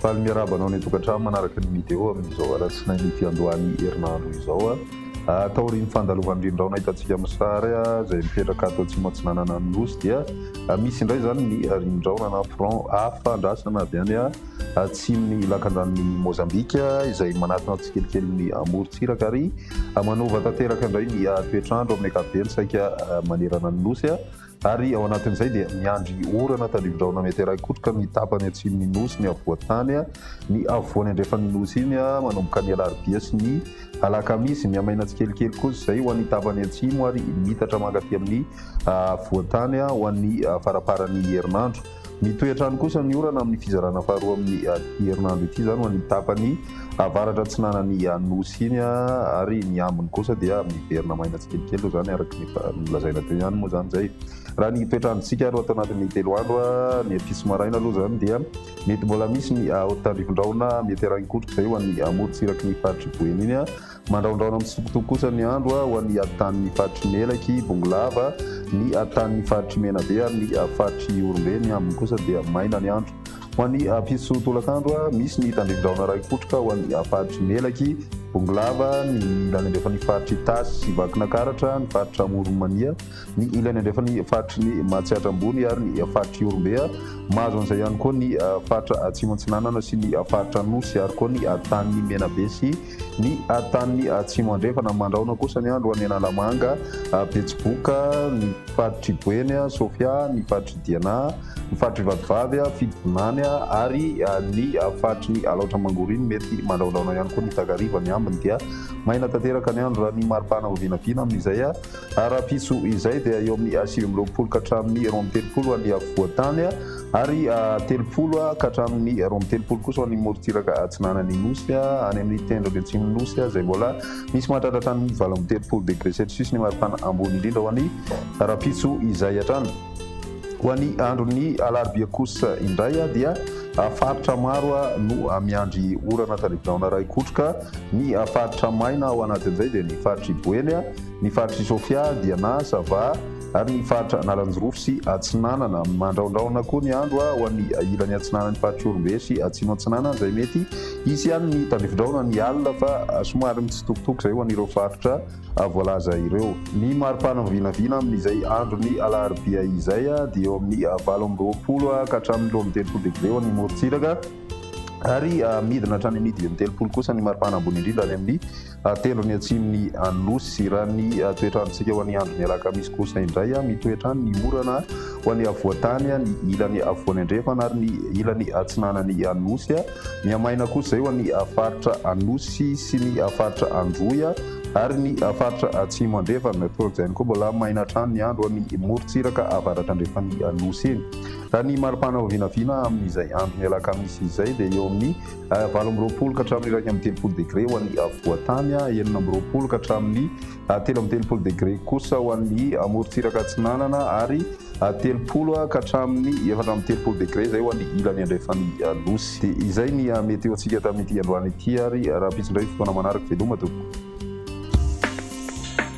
Faly miarahaba anao ny tokantrano manaraka ny mideo amin'izao alatsinainy ity andohany herinandro izao. Ah, taorian'ny fandalovan'ny rindraona hitantsika amin'ny sary ah, izay mipetraka ato atsimo atsinanana ny nosy dia ah, misy indray izany ny rindraona na front hafa andrasana avy any atsimon'ny lakandranon'i Mozambika izay manatona tsikelikely ny morontsiraka ary manova tanteraka indray ny toetr'andro amin'ny ankapobeny saika manerana ny nosy ary ao anatin'izay dia miandry orana tandrivindraona mety haraikotroka ny tapany atsimon'ny nosy ny afovoan-tany ny afovoany andrefan'ny nosy iny manomboka ny alarobia sy ny alakamisy mihamaina tsikelikely kosa izay ho an'ny tapany atsimo ary mitatra mankaty amin'ny afovoan-tany ho an'ny faraparan'ny herinandro Mitohy hatrany kosa ny orana amin'ny fizarana faharoa amin'ny herinandro ity izany ho an'ny tapany avaratra atsinanan'ny Anosy iny ary ny ambiny kosa dia miverina maina tsikelikely toy izany araka ny efa nolazaina teo ihany moa izany izay. Raha ny toetr'androntsika ary ato anatin'ny telo andro ny ampitso maraina aloha izany dia mety mbola misy ny haontandrifondrahona mety harahin-kotroka izay ho an'ny morontsiraky ny faritr'i Boeny iny Mandrahondrahona mitsitokotoko kosa ny andro ho an'ny Hatanin'ny faritry Melaky, Bongolava, ny Hatanin'ny faritry Menabe ary ny faritry Ihorombe. Ny ambiny kosa dia maina ny andro. Ho an'ny mpisotro tolakandro, misy ny tandrindraona iray kotroka ho an'ny faritry Melaky, Bongolava, ny ilany andrefan'ny faritry Itasy sy Vakinakaratra, ny faritry Amoronmania, ny ilany andrefan'ny faritry ny Matsiatra Ambony ary ny faritry Ihorombe. Mahazo an'izay ihany koa ny faritra Atsimo Atsinanana sy ny faritra Anosy ary koa ny Hatanin'ny Menabe sy Ny tan'ny Atsimo Andrefana, Mandrahona kosa ny andro any Analamanga, Betsiboka, ny faritr'i Boeny, Sofia, ny faritr'i Diana, ny faritr'i Vatovavy, Fitovinany ary ny faritry ny Alaotra Mangoriny mety mandrahondrahona ihany koa ny takariva. Ny ambiny dia maina tanteraka ny andro raha ny maripana vao vinavina amin'izay. Ara-piso izay dia eo amin'ny sivy amby roapolo ka hatramin'ny roa amby telopolo ho an'ny afovoan-tany ary telopolo ka hatramin'ny roa amby telopolo kosa ho an'ny morontsiraka atsinanan'ny Nosy. Any amin'ny tendrony atsimon'ny Nosy izay mbola misy mahatratra hatramin'ny valo amby telopolo degre celsius ny maripana ambony indrindra ho an'ny ara-piso izay hatrany. Ho an'ny andron'ny alarobia kosa indray dia faritra maro no miandry orana tandrify rahona raikotroka. Ny faritra maina ao anatin'izay dia ny faritr'i Boeny, Ny faritr'i Sofia, Diana, Sava ary ny faritra Analanjirofo sy Atsinanana. Mandraondraona koa ny andro ho an'ny ilany atsinanan'ny faritr'Ihorombe sy Atsimo Atsinanana izay mety hisy ihany ny tandrifidraona ny alina fa somary mitsitokotoko izay ho an'ireo faritra voalaza ireo. Ny mari-pana vinavina amin'izay andron'ny alarobia izay dia eo amin'ny valo amby roapolo ka hatramin'ny roa amby telopolo degre ho an'ny morontsiraka ary midina hatrany amin'ny dimy amby telopolo kosa ny mari-pana ambony indrindra any amin'ny Atelony atsimon'i Anosy. Raha ny toetr'androntsika ho an'ny andron'ny alakamisy kosa indray, mitoetra any ny orana ho an'ny afovoan-tany, ny ilany afovoany andrefana ary ny ilany atsinanan'i Anosy. Mihamaina kosa izay ho an'ny faritra Anosy sy ny faritra Androy ary ny faritra atsimo andrefana. Toa izany koa mbola maina hatrany ny andro ho an'ny morontsiraka avaratrandrefan'i Anosy iny. Raha ny mari-panao vinavina amin'izay andron'ny alakamisy izay dia eo amin'ny. valo amby roapolo ka hatramin'ny iraika amby telopolo degre ho an'ny afovoan-tany, enina amby roapolo ka hatramin'ny telo amby telopolo degre kosa ho an'ny morontsiraka atsinanana ary telopolo ka hatramin'ny efatra amby telopolo degre izay ho an'ny ilany andrefan'ny Nosy. Dia izay ny meteontsika tamin'ity androany ity ary rahampitso indray ny fotoana manaraka. Veloma tompoko.